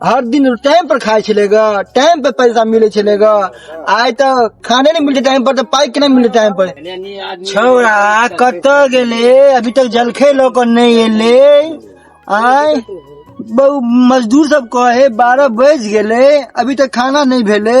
हर दिन टाइम पर खाइ छलै ग टाइम पर पैसा मिलै छलै ग आइ तऽ खाने नहि मिलतै टाइम पर तऽ पाइ केना मिलतै टाइम पर छौड़ा कतऽ गेले अभी तक जलखे लऽ कऽ नहि एले आय बहु मजदूर सब कहे बारह बजि गेले अभी तक खाना नहि भेले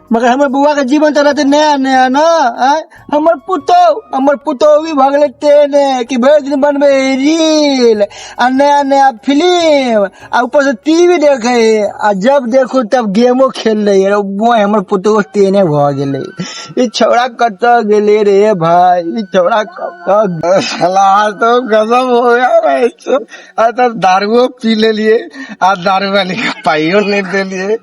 मगर हमर बौआ के जीवन तो रहते नया नया न आय? हमर पुतौ हमर पुतौवी भऽ गेलै तेने कि भरि दिन बनबै है रील आ नया नया फिल्म आ ऊपर से टीवी देखे है आ जब देखू तब गेमो खेल रही है वो हमर पुतौ तेने भऽ गेलै ई छौड़ा कतऽ गेलै रे भाय ई छौड़ा कतऽ साला तो गजब हो गया भाई आइ तऽ दारुओ पी लेलिए आ दारू वाली के पाइयो नहि देलिए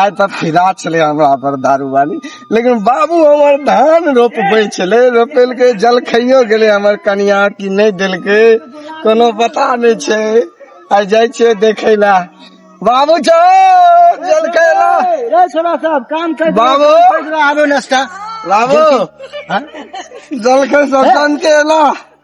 आइ तऽ फिदा छलै हमरा पर दारू वाली लेकिन बाबू हमर धान रोपबै छलै रोपेलकै जल खइयो गेलै हमर कनिया कि नहि देलकै कोनो पता नहि छै आइ जाइ छियै देखै लए बाबू चौ जल खैला रे छोरा साहब काम कर बाबू। आबो नाश्ता बाबू हाँ? जल खै सब जान के एला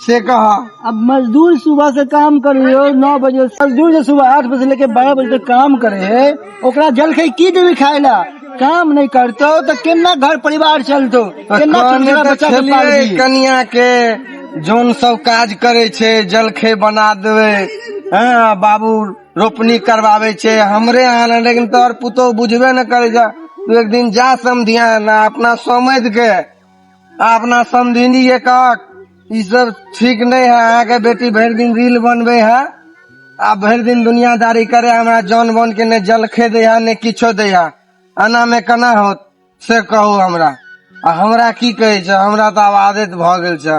से कहा अब मजदूर सुबह से काम कर रहे हो नौ बजे मजदूर जो सुबह आठ बजे से लेके बारह बजे तक काम करे है ओकरा जलखै की देवे खाए ला काम नहीं करतो तो केना घर परिवार चलतो केना कहने छोटका तऽ बच्चा के छलियै पालबी कनिया के जोन सब काज करे छै जलखे बना देवे हाँ बाबू रोपनी करवावे छै हमरे यहाँ ने लेकिन तोहर पुतोह बुझबे न करे जा तू एक दिन जा समधिया ना अपना समझ के अपना समझिनी ये काक ई सब ठीक नहीं है अहाँ के बेटी भरि दिन रील बनबे है आ भरि दिन दुनियादारी करे हमरा जौन बोन के ने जलखे दे है ने किछो दे है एना में केना होत से कहू हमरा आ हमरा की कहै छै हमरा तऽ आब आदत भऽ गेल छै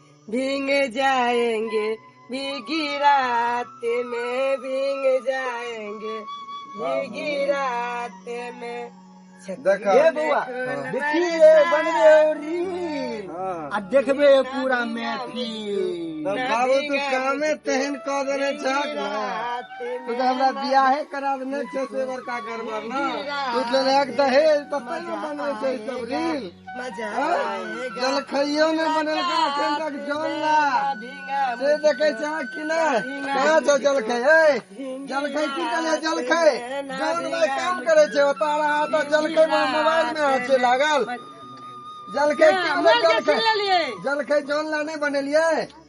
भींग जाएंगे भीगी रात में भींग जाएंगे भीगी रात में देखा ए बौआ हाँ। देखिए बनबे हो रील हाँ। आ देखबे हो पूरा महफिल तो बाबू तू कामे तेहन कह देने छाक ना तू तो हमरा बियाहे करा देने छे से बड़का गड़बड़ ना तू तो एक दहेज तो तैयो बनवे छै सब रील जलखैयो ने बनल का अखन तक जल ना से देखे छै अहाँ कि ना कहाँ छौ जलखै ए जलखै की कहलियै जलखै जौन भाई काम करे छै ओतऽ रहा तऽ जलखै में मोबाइल में अहाँ छै लागल जलखै की कहलियै जलखै जलखै जौन ला नहि बनेलियै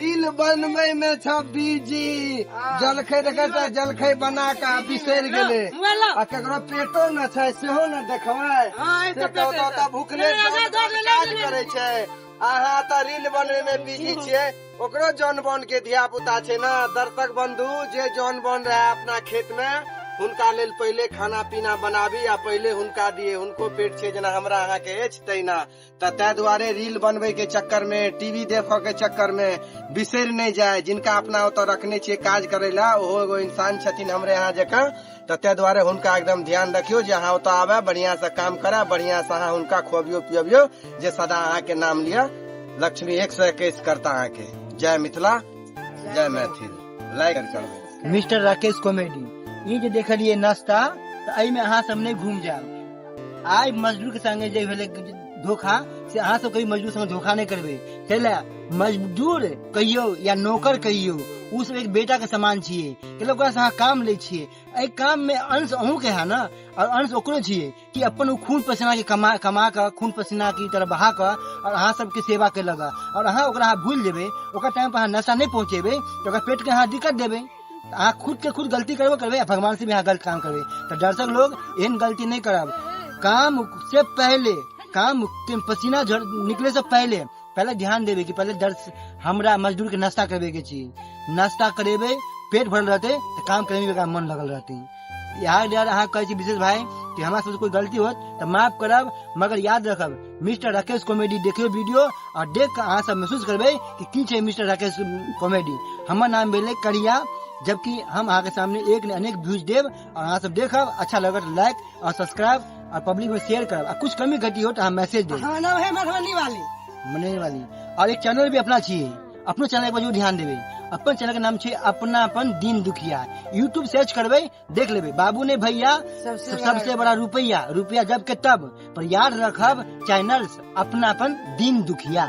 रील बनबै मे छ बीजी जलखै देखै त जलखै बना कऽ बिसरि गेलै आ केकरो पेटो न छै सेहो न देखबै से तऽ ओतऽ ओतऽ भुखले काज करै छै अहाँ तऽ रील बनबै मे बिजी छियै ओकरो जौन बन के धिया पुता छै ने दर्शक बंधु जे जौन बन रहे अपना खेत में हुनका लेल पहिले खाना पीना बनाबी आ पहिले हुनका दिए हुनको पेट छै जेना हमरा अहाँके अछि तहिना तऽ ताहि दुआरे रील बनबै के चक्कर मे टीवी देखऽ के चक्कर मे बिसरि नहि जाय जिनका अपना ओतऽ रखने छियै काज करै ला ओहो एगो इंसान छथिन हमरे यहाँ जकाँ तऽ ताहि दुआरे हुनका एकदम ध्यान रखियौ जे अहाँ ओतऽ आबे बढ़िया से काम करे बढ़िया से अहाँ हुनका खुअबियो पियबियो जे सदा अहाँके नाम लिअ लक्ष्मी एक सौ एकैस करता अहाँके जय मिथिला जय मैथिल लाइक करबै मिस्टर राकेश कॉमेडी ई जे देखलिए नाश्ता तऽ एहिमे अहाँ सब नहि घूम जायब आइ मजदूर के संगे जे भेलै धोखा से अहाँ सब कभी मजदूर संगे धोखा नहीं करबे चल मजदूर कहियो या नौकर कहियो उ सब एक बेटा के समान छिए कैला ओकरा से अहाँ काम ले छिए एहि काम में अंश अहूँ के है ना और अंश ओकरो छिए कि अपन उ खून पसीना के कमा कमा के खून पसीना की तरह बहा के और अहाँ सबके सेवा कैलक और अहाँ ओकरा अहाँ भूल जेबे ओकर टाइम पर अहाँ नशा नहीं पहुँचेबे तो ओकर पेट के अहाँ दिक्कत देबे अहाँ खुद के खुद गलती करबो करबे आ भगवान से भी अहाँ गलत काम करबे तो दर्शक लोग एहन गलती नहीं करब काम से पहले काम के पसीना झड़ निकले से पहले पहले ध्यान देवे कि पहले दर्श हमरा मजदूर के नाश्ता करबे के चाहिए नाश्ता करेबे पेट भरल रहते तो काम करे में भी एकरा मन लगल रहते यार यार अहाँ कहै छी विशेष भाई कि हमरा सबसे कोई गलती होत तऽ माफ करब मगर याद रखब मिस्टर राकेश कॉमेडी देखियो वीडियो और देख कऽ अहाँ सब महसूस करबै कि की छै मिस्टर राकेश कॉमेडी हमर नाम भेलै करिया जबकि हम अहाँके सामने एक ने अनेक व्यूज देब और अहाँ सब देखब अच्छा लगत लाइक और सब्सक्राइब और पब्लिक में शेयर करब आ कुछ कमी घटी हो तो अहाँ मैसेज देब हमारा नाम है मधुबनी वाली मने वाली और एक चैनल भी अपना छी अपनो चैनल एक बार जरूर ध्यान देबै अपन चैनल के नाम छै अपना अपन दिन दुखिया यूट्यूब सर्च करबै देख लेबै बाबू ने भैया सबसे सबसे बड़ा रुपैया रुपैया जब के तब पर याद रखब चैनल अपना अपन दिन दुखिया